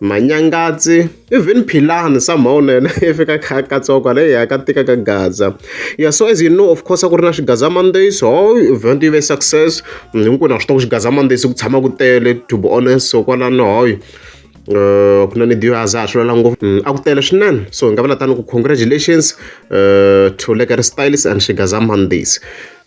Manyangatsi even Philani somehow na yena i fika a kha a katsiwa kwala heyi a ka tika ka gaza ya so as you know of course a ku ri na xigaza Mondays ho event yi ve success hinkwenu ha swi tiva ku xigaza Mondays ku tshama ku tele to be honest so kwalano hoyi Eh, ku na ni dio aza swi lwela ngopfu mm, a ku tele swinene so hi nga vula tani ku congratulations eh, to lekere styles and shigaza mondays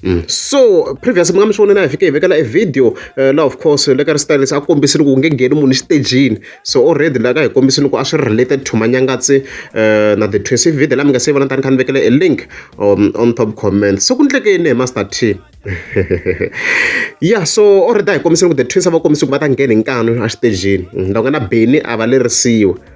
Mm. so previous mi nga mi swi vona na hi fike hi vekela e video uh, eh, la of course le ka ri stylise a kombisini ku nge ngheni munhu xitejini so already la ka hi kombisini ku a swi related to manyangatsi uh, na the twins i video la mi nga se yi vona tani kha ni vekele e link um, on top comment so ku ndleke yini hi master t ya so already a hi kombisini ku the twins a va kombisi ku va ta ngheni nkanu exitejini mm, loko nga na beni a va lerisiwa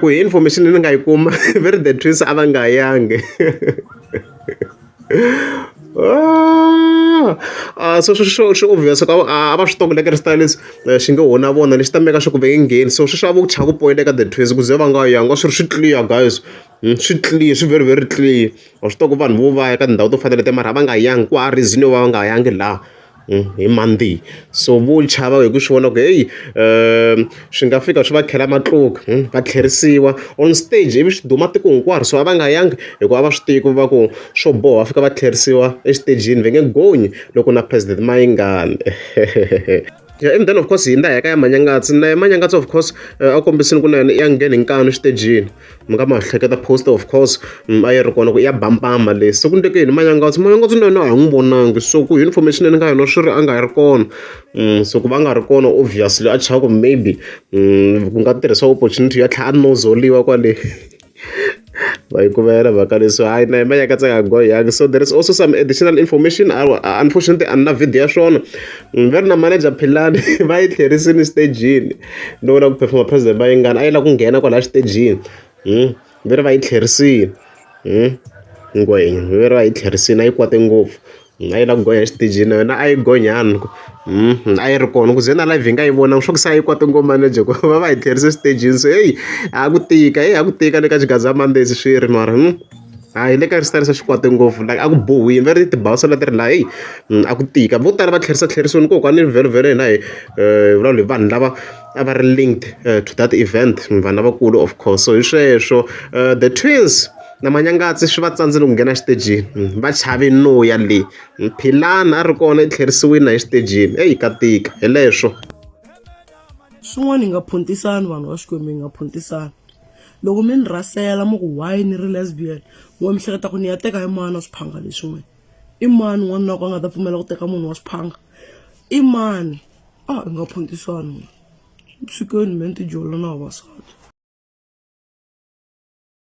Ku hi information leyi ni nga yi kuma va ri the twins a va nga yangi se swi swi swi obvious ku a a va swi tiva ku le Kreste leswi xi nge ho na vona lexi ta meka swa ku va nge ngheni so sweswi a vo chava ku poyinteka ka the twins ku ze va nga yangi va swi ri swi clear guys swi clear swi very very clear wa swi tiva ku vanhu vo va ya ka tindhawu to fana na leto mara a va nga yangi ku hava reason yo va va nga yangi laha. hi Monday. So vo chava hi ku swi vona ku heyi swi nga fika swi va khela matluka va tlherisiwa on stage ivi swi duma tiko hinkwaro so a va nga yangi hikuva a va swi tivi ku va ku swo boha va fika va tlherisiwa exitejini va nge gonyi loko na President Mayingani ya and then of course hi na ya ka ya Manyangatsi na ya Manyangatsi of course a kombisile ku na yona ya nghena hi nkani exitejini. mi nga ma hleketa post of course mm, a yi ri kona ku ya bampama leyi se ku ndeke yini manyangatsi manyangatsi na yena a hi n'wi vonangi so ku hi information leyi ni nga yona swi ri a nga ri kona mm, so ku va nga ri kona obviously a chava ku maybe mm, ku nga tirhisa opportunity ya tlhela a nozoliwa kwale vayikuvela mhaka leswi hayi na yimanya ka tsaka go yang so there is also some additional information unfortunately a ni na video ya swona mm, va ri na manager philani va yi tlherisini stagini ni vona ku perform president Mayengani a yi lava ku nghena kwala xitejini ve ri va yi tlherisini ngwenya ve ri va yi tlherisini a yi kwate ngopfu a yi lava ku gonya xitejini na yona a yi gonyani a yi ri kona ku ze na live hi nga yi vonangi swa ku se a yi kwate ngopfu mani Jeko va va hi tlherise xitejini se heyi a ku tika heyi a ku tika le ka xigaza mandesi swi ri mara . A hi le ka ri sitarisa xikwata ngopfu like a ku bohiwile va ri tibawu se leti ri la heyi a ku tika vo tala va tlherisa tlherisoni ko kwale vhelovhelo hina hi vulavula hi vanhu lava a va ri linked to that event vanhu lavakulu of course so hi sweswo the twins na manyangatsi swi va tsandzile ku nghena xitejini va chave no ya le philani a ri kona i tlherisiwile na exitejini eyi ka tika hi leswo swin'wana hi nga phuntisani vanhu va xikwembu hi nga phuntisani loko mi ni rhasela mi ku why ni ri lesbian wa mi hleketa ku ni ya teka hi mani wa swiphanga leswi n'wini i mani n'wana loko a nga ta pfumela ku teka munhu wa swiphanga i mani a hi nga phuntisani swi keni me ni tijola na vavasati